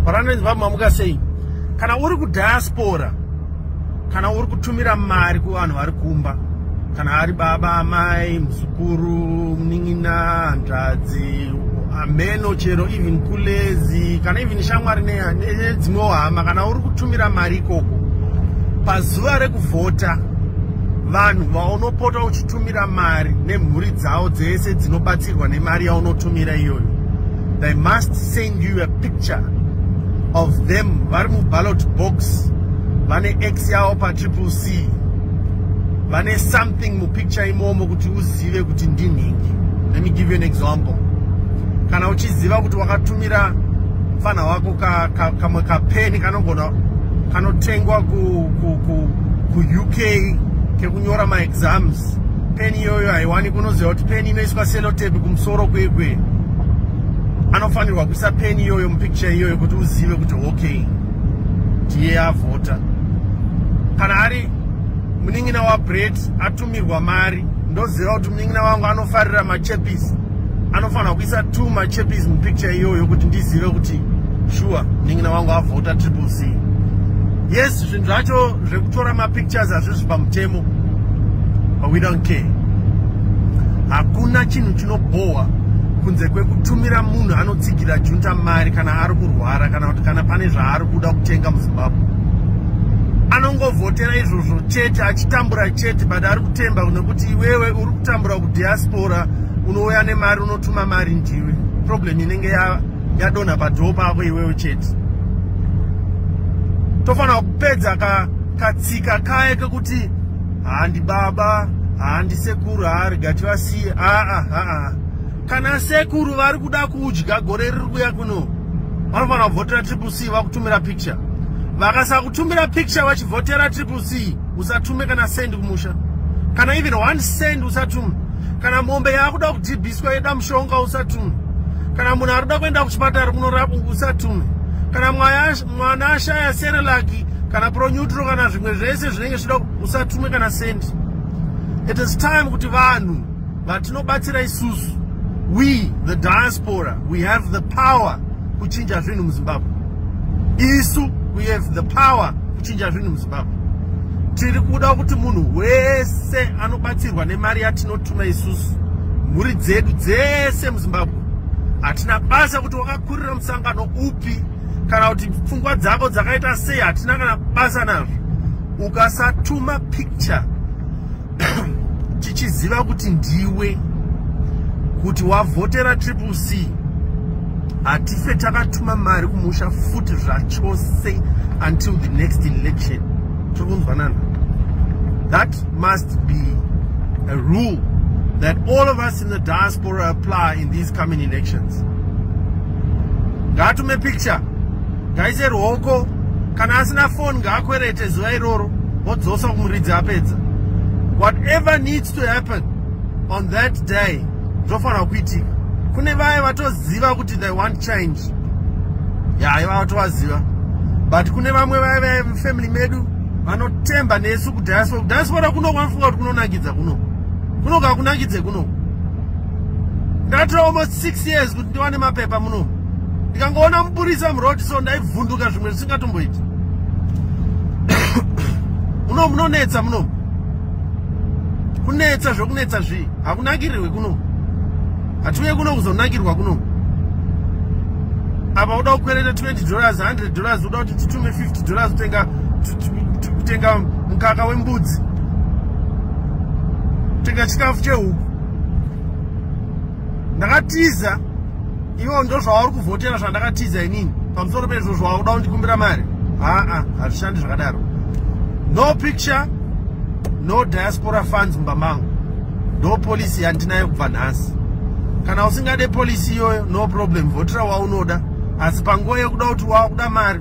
varanezva mamuka sei kana uri kudiaspora kana uri kutumira mari kuvanhu vari kumba kana ari baba amai muzukuru munin'ina hanzvadzi hameno chero even kulezi kana even shamwari nedzimwewo hama kana uri kutumira mari ikoko pazuva rekuvhota vanhu vaunopota uchitumira mari nemhuri dzavo dzese dzinobatsirwa nemari yaunotumira iyoyo they must send you a picture of them vari muballot box vane x yavo patriple c vane something mupicture imomo kuti uzive kuti ndinhingi let me give you an example kana uchiziva kuti wakatumira mfana wako kamwe ka, ka kapeni kanogona kanotengwa ku, ku, ku, ku uk kekunyora maexams peni iyoyo haiwani kunoziva kuti peni inoiswa selotepi kumusoro kwekwe anofanirwa kuisa peni iyoyo mupicture iyoyo kuti uzive kuti okay ndiye avhota kana ari munin'ina wabret atumirwa mari ndoziva kuti munin'ina wangu anofarira machepis anofanirwa kuisa t machepis mupicture iyoyo kuti ndizive kuti shuwa munin'ina wangu avhota triple c yes zvinhu zvacho zvekutora mapictures hazvizvi pamutemo but we don't care hakuna chinhu chino Bowa kunze kwekutumira munhu anotsigira junta mari kana ari kurwara kana kuti kana pane zvaari kuda kutenga muzimbabwe anongovhotera izvozvo chete achitambura chete but ari kutemba nekuti iwewe uri kutambura kudiaspora unouya nemari unotuma mari ndiwe problem inenge yadonha padhoo pako iwewe chete tofanira kupedza katsika kaye kekuti handi baba handi sekuru haari gati vasiye aa aa kana sekuru vari kuda kudya gore riri kuya kuno vanofanira kuvhotera triple c vakutumira picture vakasakutumira picture vachivhotera triple c usatume kana send kumusha kana even one send usatume kana mombe yaakuda kudhibhiswa yeda mushonga usatume kana munhu ari kuda kuenda kuchipatara kunorapwa usatume kana mwaya mwana ashaya serelaki kana proneutral kana zvimwe zvese zvinenge zvida usatumwe kana sendi it is time kuti vanhu vatinobatsira isusu we the diaspora we have the power kuchinja zvinhu muzimbabwe isu we have the power kuchinja zvinhu muzimbabwe tiri kuda kuti munhu wese anobatsirwa nemari yatinotuma isusu mhuri dzedu dzese muzimbabwe hatina basa kuti wakakurira musangano upi kana kuti pfungwa dzako dzakaita sei hatina kana basa nazvo ukasatuma picture tichiziva kuti ndiwe kuti wavhotera triple c hatife takatuma mari kumusha futi zvachose until the next election tiri kunzwanana that must be a rule that all of us in the diaspora apply in these coming elections ngaatume picture ngaise ruoko kana asina foni ngaakwerete zuva iroro vodzosa kumuridzi apedza whatever needs to happen on that day zvofanira kuitika kune vaye vatoziva kuti they want change yaye vavatovaziva but kune vamwe vaye vaye family medu vanotemba nesu kudiaspora kudiaspora kuno kwanofunga kuti kunonakidza kuno kuno kakunakidze kuno ndakatora almost six years kuti ndiwane mapepa muno ndikangoona mupurisa muroad so ndaivhunduka zvimwe zvisingatomboiti muno munonetsa muno kunetsa zvokunetsa zvii hakunakirirwe kuno hatiuye kuno kuzonakirwa kuno apa uda kukwereta 20 dollars 100 dollars uda kuti titume 50 dollars utenga kutenga mukaka wembudzi kutenga chikafu chehuku ndakatiza ivo ndo zvawauri kuvhotera zvandakatiza inini pamusoro pezvo zvawakuda kundikumbira mari haa hazvishandi zvakadaro no picture no diaspora funds mumba mangu ndo polisi yandinayo kubva nhasi kana usingade polisi iyoyo no problem vhotera waunoda asi panguva yekuda kuti wakuda mari